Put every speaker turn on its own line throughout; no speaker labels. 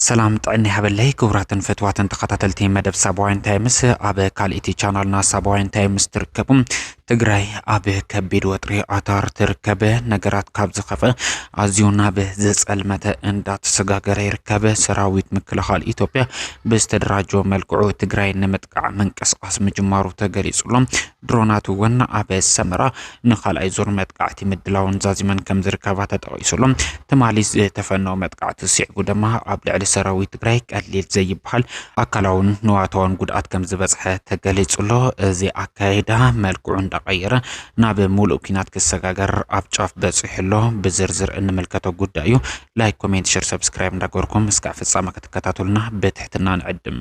ሰላም ጥዕና ይሃበለይ ክቡራትን ፈትዋትን ተኸታተልቲ መደብ ሳባውያን ታይምስ ኣብ ካልእቲ ቻናልና ሳባውያን ታይምስ ትርከቡ ትግራይ ኣብ ከቢድ ወጥሪ ኣታር ትርከበ ነገራት ካብ ዝኸፈ ኣዝዩ ናብ ዘጸልመተ እንዳተሰጋገረ ይርከበ ሰራዊት ምክልኻል ኢትዮጵያ ብዝተደራጀ መልክዑ ትግራይ ንምጥቃዕ ምንቅስቃስ ምጅማሩ ተገሊጹሎ ድሮናት እውን ኣብ ሰመራ ንካልኣይ ዙር መጥቃዕቲ ምድላውን ዛዚመን ከም ዝርከባ ተጠቂሱሎ ትማሊ ዝተፈነወ መጥቃዕቲ ስዒቡ ድማ ኣብ ልዕሊ ሰራዊት ትግራይ ቀሊል ዘይበሃል ኣካላውን ንዋታውን ጉድኣት ከም ዝበፅሐ ተገሊጹ ኣሎ። እዚ ኣካይዳ መልክዑ እንዳቀየረ ናብ ሙሉእ ኩናት ክሰጋገር ኣብ ጫፍ በፂሑ ኣሎ። ብዝርዝር እንምልከቶ ጉዳይ እዩ። ላይክ፣ ኮሜንት፣ ሸር፣ ሰብስክራይብ እንዳገበርኩም እስካዕ ፍፃመ ክትከታተሉና ብትሕትና ንዕድም።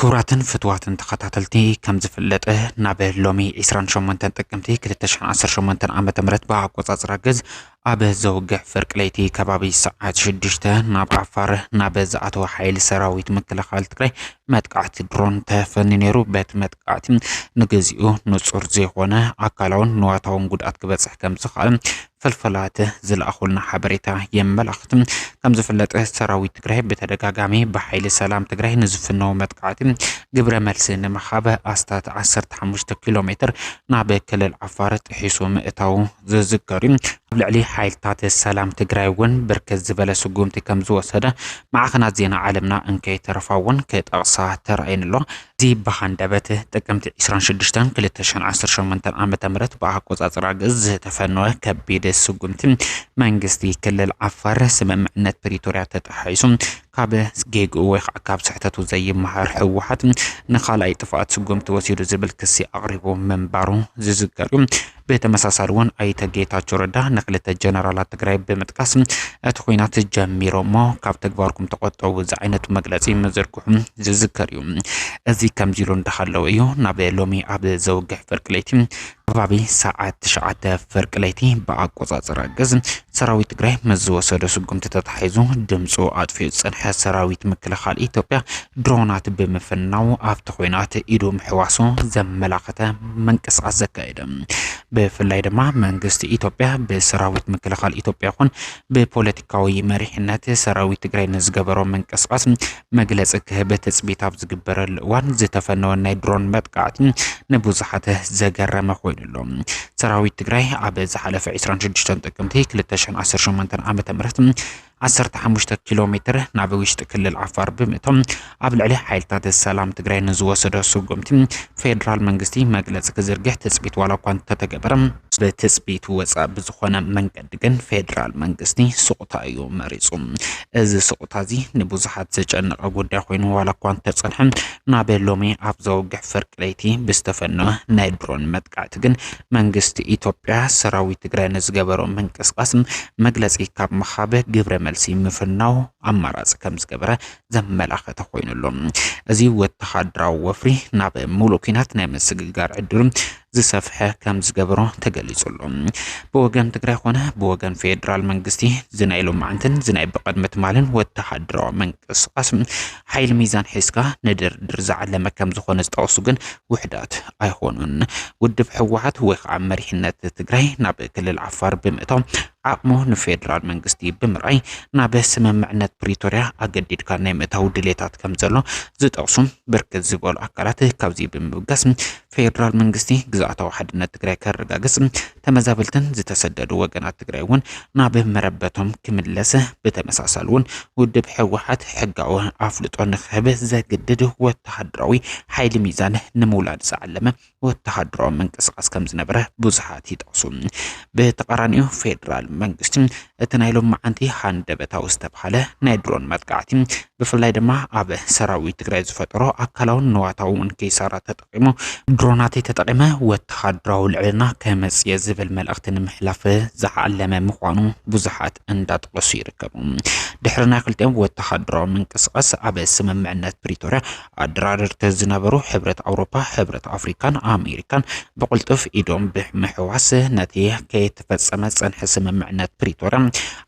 ክቡራትን ፍትዋትን ተኸታተልቲ ከም ዝፍለጠ ናብ ሎሚ 28 ጥቅምቲ 2018 ዓ ም ብኣቆፃፅራ ግዝ ኣብ ዘውግሕ ፍርቂ ለይቲ ከባቢ ሰዓት ሽዱሽተ ናብ ዓፋር ናብ ዝኣተወ ሓይሊ ሰራዊት ምክልኻል ትግራይ መጥቃዕቲ ድሮን ተፈንዩ ነይሩ። በቲ መጥቃዕቲ ንግዚኡ ንጹር ዘይኮነ ኣካላውን ንዋታውን ጉድኣት ክበጽሕ ከም ዝኽኣል ፍልፍላት ዝለኣኹልና ሓበሬታ የመላኽት። ከም ዝፍለጥ ሰራዊት ትግራይ ብተደጋጋሚ ብሓይሊ ሰላም ትግራይ ንዝፍነው መጥቃዕቲ ግብረ መልሲ ንምሃብ ኣስታት 15 ኪሎ ሜትር ናብ ክልል ዓፋር ጥሒሱ ምእታው ዝዝከር እዩ። ኣብ ልዕሊ ሓይልታት ሰላም ትግራይ እውን ብርክት ዝበለ ስጉምቲ ከም ዝወሰደ ማዕኸናት ዜና ዓለምና እንከይተረፋ እውን ክጠቕሳ ተራእየን ኣሎ። እዚ ብሃንደበት ጥቅምቲ 26 2018 ዓ ም ብኣቆፃፅራ ግእዝ ዝተፈነወ ከቢድ ስጉምቲ መንግስቲ ክልል ዓፋር ስምምዕነት ፕሪቶርያ ተጣሒሱ ካብ ጌግኡ ወይ ከዓ ካብ ስሕተቱ ዘይመሃር ህወሓት ንካልኣይ ጥፍኣት ስጉምቲ ወሲዱ ዝብል ክሲ ኣቕሪቡ ምንባሩ ዝዝከር እዩ። ብተመሳሳሊ እውን ኣይተ ጌታቸው ረዳ ንክልተ ጀነራላት ትግራይ ብምጥቃስ እቲ ኩናት ጀሚሮሞ ካብ ተግባርኩም ተቆጠቡ ዝዓይነቱ መግለፂ ምዝርግሑ ዝዝከር እዩ። እዚ ከምዚ ኢሉ እንዳሃለው እዩ ናብ ሎሚ ኣብ ዘውግሕ ፍርቂ ለይቲ ከባቢ ሰዓት ትሽዓተ ፍርቂ ለይቲ ብኣቆፃፅራ ግዝ ሰራዊት ትግራይ ምስ ዝወሰዶ ስጉምቲ ተታሒዙ ድምፁ ኣጥፊኡ ዝፀንሐ ሰራዊት ምክልኻል ኢትዮጵያ ድሮናት ብምፍናው ኣብቲ ኮይናት ኢዱ ምሕዋሱ ዘመላኸተ ምንቅስቃስ ዘካየደ ብፍላይ ድማ መንግስቲ ኢትዮጵያ ብሰራዊት ምክልኻል ኢትዮጵያ ይኹን ብፖለቲካዊ መሪሕነት ሰራዊት ትግራይ ንዝገበሮ ምንቅስቃስ መግለፂ ክህብ ትፅቢት ኣብ ዝግበረሉ እዋን ዝተፈነወ ናይ ድሮን መጥቃዕቲ ንብዙሓት ዘገረመ ኮይኑ ኣሎ። ሰራዊት ትግራይ ኣብ ዝሓለፈ 26 ጥቅምቲ 2018 ዓ ም ዓሰርተ ሓሙሽተ ኪሎ ሜትር ናብ ውሽጢ ክልል ዓፋር ብምእቶም ኣብ ልዕሊ ሓይልታት ሰላም ትግራይ ንዝወሰዶ ስጉምቲ ፌዴራል መንግስቲ መግለፂ ክዝርግሕ ትፅቢት ዋላ እኳ እንተተገበረ ብትፅቢት ወፃእ ብዝኾነ መንገዲ ግን ፌዴራል መንግስቲ ስቑታ እዩ መሪፁ። እዚ ስቑታ እዚ ንብዙሓት ዘጨነቐ ጉዳይ ኮይኑ ዋላ እኳ እንተፀንሐ ናብ ሎሚ ኣብ ዘወግሕ ፍርቂ ለይቲ ብዝተፈነወ ናይ ድሮን መጥቃዕቲ ግን መንግስቲ ኢትዮጵያ ሰራዊት ትግራይ ንዝገበሮ ምንቅስቓስ መግለፂ ካብ ምሃብ ግብረ መልሲ ምፍናው ኣማራፂ ከም ዝገበረ ዘመላኸተ ኮይኑ ኣሎ። እዚ ወተሃደራዊ ወፍሪ ናብ ሙሉእ ኩናት ናይ ምስግጋር ዕድሉ ዝሰፍሐ ከም ዝገበሮ ተገሊጹ ኣሎ። ብወገን ትግራይ ኮነ ብወገን ፌዴራል መንግስቲ ዝናይ ሎማዕንትን ዝናይ ብቕድሚ ትማልን ወተሃደራዊ ምንቅስቓስ ሓይሊ ሚዛን ሒዝካ ንድርድር ዝዓለመ ከም ዝኾነ ዝጠቕሱ ግን ውሕዳት ኣይኾኑን። ውድብ ህወሓት ወይ ከዓ መሪሕነት ትግራይ ናብ ክልል ዓፋር ብምእታው ዓቕሙ ንፌዴራል መንግስቲ ብምርኣይ ናብ ስምምዕነት ፕሪቶርያ ኣገዲድካ ናይ ምእታው ድሌታት ከም ዘሎ ዝጠቕሱ ብርክት ዝበሉ ኣካላት ካብዚ ብምብጋስ ፌዴራል መንግስቲ ግዝኣታዊ ሓድነት ትግራይ ከረጋግፅ ተመዛበልትን ዝተሰደዱ ወገናት ትግራይ እውን ናብ መረበቶም ክምለሰ ብተመሳሳሊ እውን ውድብ ህወሓት ሕጋዊ ኣፍልጦ ንክህብ ዘግድድ ወተሃደራዊ ሓይሊ ሚዛን ንምውላድ ዝዓለመ ወተሃደራዊ ምንቅስቃስ ከም ዝነበረ ብዙሓት ይጠቕሱ። ብተቃራኒኡ ፌዴራል መንግስቲ እቲ ናይ ሎም መዓንቲ ሃንደበታዊ ዝተብሃለ ናይ ድሮን መጥቃዕቲ ብፍላይ ድማ ኣብ ሰራዊት ትግራይ ዝፈጠሮ ኣካላውን ንዋታውን ኪሳራ ተጠ ተጠቒሙ ድሮናተይ ተጠቒመ ወተሃደራዊ ልዕልና ከመፅእ ዝብል መልእኽቲ ንምሕላፍ ዝዓለመ ምዃኑ ብዙሓት እንዳጠቐሱ ይርከቡ። ድሕሪ ናይ ክልቲኦም ወተሃደራዊ ምንቅስቓስ ኣብ ስምምዕነት ፕሪቶርያ ኣደራደርቲ ዝነበሩ ሕብረት ኣውሮፓ፣ ሕብረት ኣፍሪካን ኣሜሪካን ብቕልጡፍ ኢዶም ብምሕዋስ ነቲ ከይተፈፀመ ዝፀንሐ ስምምዕነት ፕሪቶርያ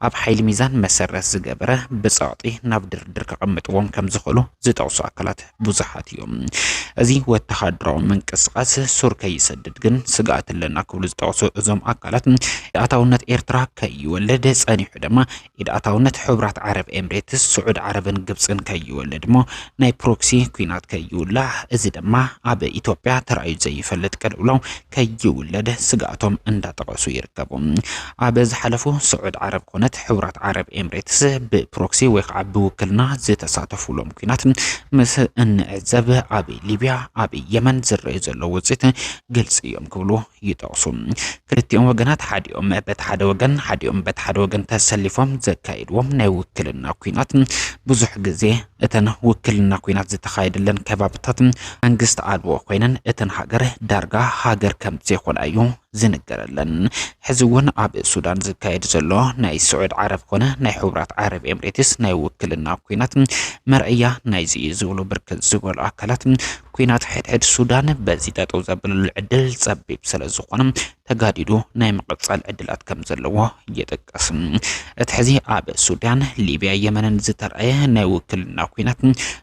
ኣብ ሓይሊ ሚዛን መሰረት ዝገበረ ብፀቕጢ ናብ ድርድር ከቐምጥዎም ከምዝኽእሉ ዝጠቕሱ ኣካላት ብዙሓት እዮም። እዚ ወተሃደራዊ ምንቅስቓስ ሱር ከይሰድድ ግን ስግኣት ኣለና ክብሉ ዝጠቕሱ እዞም ኣካላት ኢድኣታውነት ኤርትራ ከይወልድ ጸኒሑ ድማ ኢድኣታውነት ሕብራት ዓረብ ኤምሬትስ፣ ስዑድ ዓረብን ግብጽን ከይወልድ እሞ ናይ ፕሮክሲ ኩናት ከይውላዕ እዚ ድማ ኣብ ኢትዮጵያ ተራእዩ ዘይፈልጥ ቅልውላው ከይውለድ ስግኣቶም እንዳጠቐሱ ይርከቡ። ኣብ ዝሓለፉ ስዑድ ዓረብ ኮነት ሕቡራት ዓረብ ኤምሬትስ ብፕሮክሲ ወይ ከዓ ብውክልና ዝተሳተፉሎም ኩናት ምስ እንዕዘብ ኣብ ሊብያ ኣብ የመን ዝረዩ ዘሎ ውፅኢት ግልፂ እዮም ክብሉ ይጠቕሱ። ክልቲኦም ወገናት ሓዲኦም በቲ ሓደ ወገን ሓዲኦም በቲ ሓደ ወገን ተሰሊፎም ዘካይድዎም ናይ ውክልና ኩናት ብዙሕ ግዜ እተን ውክልና ኲናት ዝተኻየደለን ከባብታት መንግስቲ ኣልቦ ኮይነን እተን ሃገር ዳርጋ ሃገር ከም ዘይኮና እዩ ዝንገረለን። ሕዚ እውን ኣብ ሱዳን ዝካየድ ዘሎ ናይ ስዑድ ዓረብ ኮነ ናይ ሕቡራት ዓረብ ኤምሬትስ ናይ ውክልና ኲናት መርኣያ ናይዚ እዩ ዝብሉ ብርክት ዝበሉ ኣካላት ኲናት ሕድሕድ ሱዳን በዚ ጠጠው ዘብለሉ ዕድል ፀቢብ ስለዝኾነ ተጋዲዱ ናይ ምቕጻል ዕድላት ከም ዘለዎ ይጥቀስ። እቲ ሕዚ ኣብ ሱዳን፣ ሊብያ፣ የመንን ዝተርኣየ ናይ ውክልና ኩናት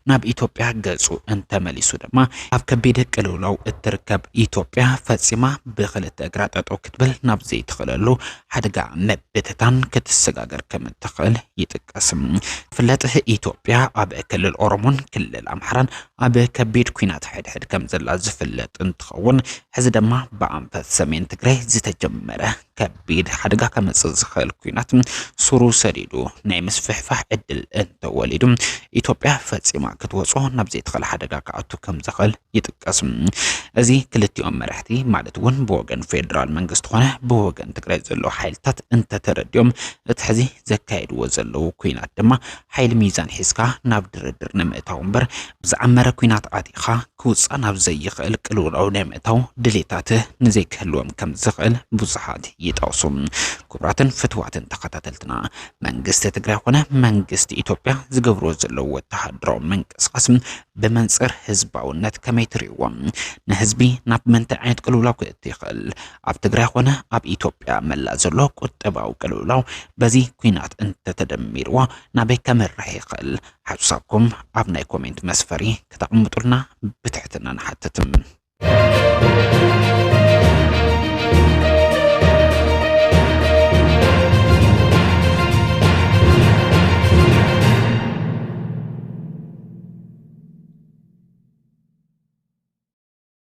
ናብ ኢትዮጵያ ገጹ እንተመሊሱ ድማ ኣብ ከቢድ ቅልውላው እትርከብ ኢትዮጵያ ፈጺማ ብክልተ እግራ ጠጠው ክትብል ናብ ዘይትኽእለሉ ሓደጋ ምብትታን ክትሰጋገር ከም እትኽእል ይጥቀስ። ፍለጥ ኢትዮጵያ ኣብ ክልል ኦሮሞን ክልል ኣምሓራን ኣብ ከቢድ ኲናት ሕድሕድ ከምዘላ ዝፍለጥ እንትኸውን ሕዚ ድማ ብኣንፈት ሰሜን ትግራይ ዝተጀመረ ከቢድ ሓደጋ ከመፅእ ዝኽእል ኲናት ሱሩ ሰዲዱ ናይ ምስፍሕፋሕ ዕድል እንተወሊዱ ኢትዮጵያ ፈፂማ ክትወፅኦ ናብ ዘይትኽእል ሓደጋ ክኣቱ ከምዘኽእል ይጥቀስ። እዚ ክልቲኦም መራሕቲ ማለት እውን ብወገን ፌዴራል መንግስቲ ኾነ ብወገን ትግራይ ዘለዉ ሓይልታት እንተተረዲኦም እቲ ሕዚ ዘካየድዎ ዘለዉ ኩናት ድማ ሓይሊ ሚዛን ሒዝካ ናብ ድርድር ንምእታው እምበር ብዝዓመረ ኲናት ኣቲኻ ክውጻእ ናብ ዘይኽእል ቅልውላው ናይ ምእታው ድሌታት ንዘይክህልዎም ከም ዝኽእል ብዙሓት ይጠቕሱ። ክቡራትን ፍትዋትን ተኸታተልትና መንግስቲ ትግራይ ኮነ መንግስቲ ኢትዮጵያ ዝገብርዎ ዘለዉ ወተሃደራዊ ምንቅስቓስ ብመንጽር ህዝባውነት ከመይ ትርእይዎ? ንህዝቢ ናብ ምንታይ ዓይነት ቅልውላው ክእቱ ይኽእል? ኣብ ትግራይ ኾነ ኣብ ኢትዮጵያ መላእ ዘሎ ቁጠባዊ ቅልውላው በዚ ኩናት እንተተደሚርዎ ናበይ ከምርሕ ይኽእል? ሓሳብኩም ኣብ ናይ ኮሜንት መስፈሪ ክተቕምጡልና ብትሕትና ንሓትት።